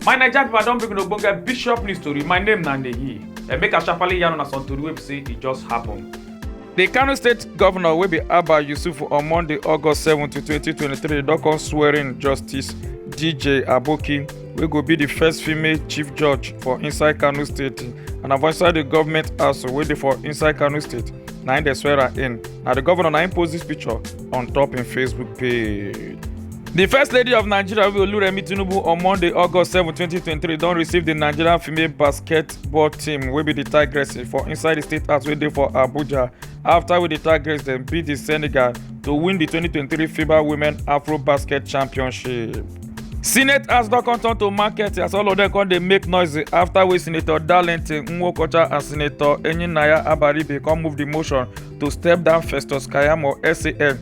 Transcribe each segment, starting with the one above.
my naija pipo i don bring una ogbonge bishop news tori my name na neyi and make i sharparly yarn una some tori wey be say e just happen. di kano state govnor wey be abba yusuf on monday august seven twenty twenty three don come swearin justice dj aboki. wey go be di first female chief judge for inside kano state and na for inside di government house wey dey for inside kano state na im dem swear her in na di governor na im post dis picture on top im facebook page. di first lady of nigeria wey oluremi tinubu on monday august seven twenty twenty three don receive di nigerian female basketball team wey be di tigress for inside di state house wey dey for abuja afta wey di tigers dem beat di senegal to win di 2023 fiba women afro basket championship. senate house don come turn to market as all of dem come dey make noise afta wey senator darlington nwokocha and senator enyinaya abaribe come move di motion to step down festus kayamo san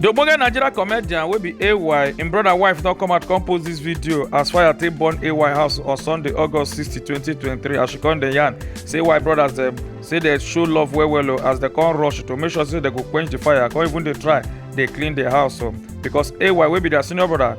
The ogbonge Nigeria comedian wey be AY, im brother wife don come out come post this video as fire take burn AY house on Sunday, August 60, 2023 as she come dey yarn say AY brothers dem say dey show love well well o as dey come rush to make sure say dey go quench the fire come even dey try dey clean the house o because AY wey be their senior brother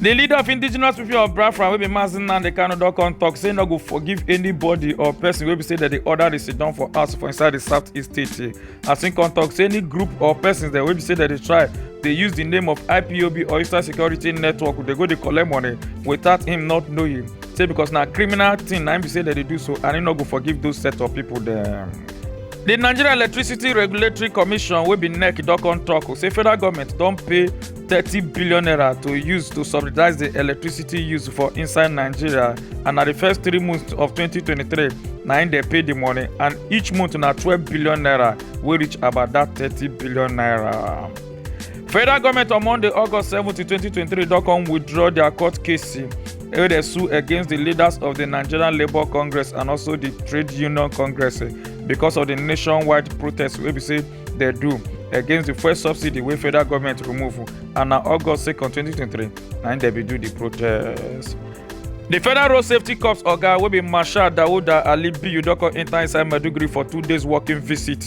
di leader of indigenous people of biafra wey be mazi nnamdi kanu don come tok say e no go forgive anybody or person wey be say dem dey order di sit down for house for inside di southeast state as im come tok say any group or persons dem wey be say dem dey try dey use di name of ipob or eastern security network dey go dey collect money without him not knowing say because na criminal thing na im be say dem dey do so and im no go forgive those set of people dem. di nigeria electricity regulatory commission wey be nec don come tok say federal goment don pay thirty billion naira to use to subsidize di electricity use for inside nigeria and na di first three months of 2023 na im dey pay di money and each month na twelve billion naira wey reach about dat thirty billion naira. federal goment on monday august seventeen twenty twenty three don come withdraw dia court case wey dey sue against di leaders of di nigerian labour congress and also di trade union congress because of di nationwide protest wey be say. dey do against di fuel subsidy wey federal goment remove and na august 2 2023 na im dem bin do di protest. di federal road safety corps oga wey be marshal dauda ali biyu don come enta inside maiduguri for two days working visit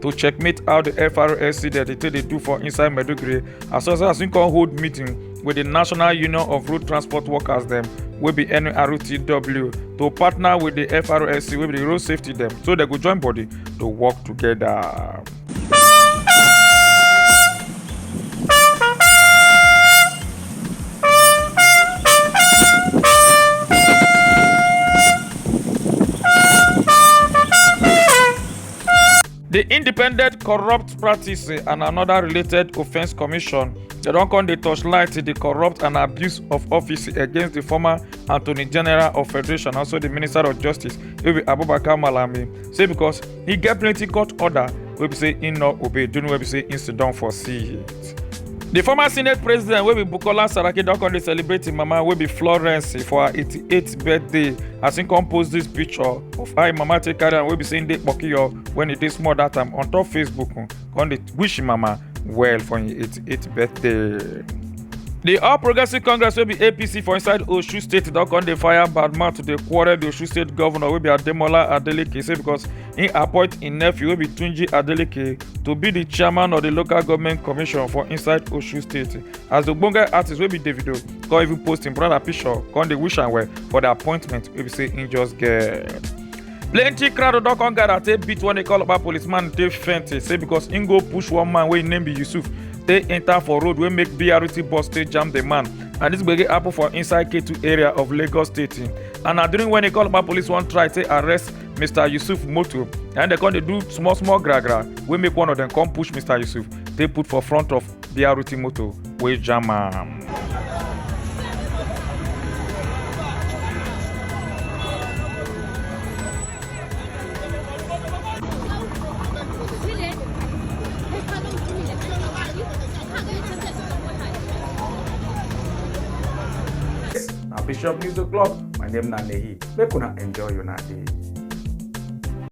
to checkmate how di frsa dey take dey do for inside maiduguri as well as im come hold meeting with the National Union of Road Transport Workers dem wey be NRTW to partner with the FRSC wey be the road safety dem so dem go join body to work together. di independent corrupt practice and anoda related offence commission dem don come dey torchlight di corrupt and abuse of office against di former attorney general of federation also di minister of justice wey be abubakar malami say becos e get plenty court order wey be say e no obey during wey be say e siddon for sea. di former senate president wey be bukola saraki don come dey celebrate im mama wey be florence for her 88th birthday as im come post dis picture of how im mama take carry am wey be say im dey kpokiyo wen e dey small dat time on top facebook come dey wish im mama well for im 88th birthday. di all progressives congress wey be apc for inside osun state don come dey fire bad mouth to dey quarrel di osun state govnor wey be ademola adeleke say becos im appoint im nephew wey be tunji adeleke to be di chairman of di local goment commission for inside osun state as di ogbonge artist wey be davido come even post im brother picture come dey wish am well for di appointment wey be say im just get. plenty crowd don come gather take beat one call about policeman take faint say because im go push one man wey im name be yusuf take enter for road wey make brt bus take jam the man and dis gbege happen for inside k2 area of lagos state and na during wen call about police wan try take arrest mr yusuf motor and dem come dey do small small gra gra wey make one of dem come push mr yusuf take put for front of brt motor wey jam am. na bishop news o'clock my name na nehi make una enjoy una day.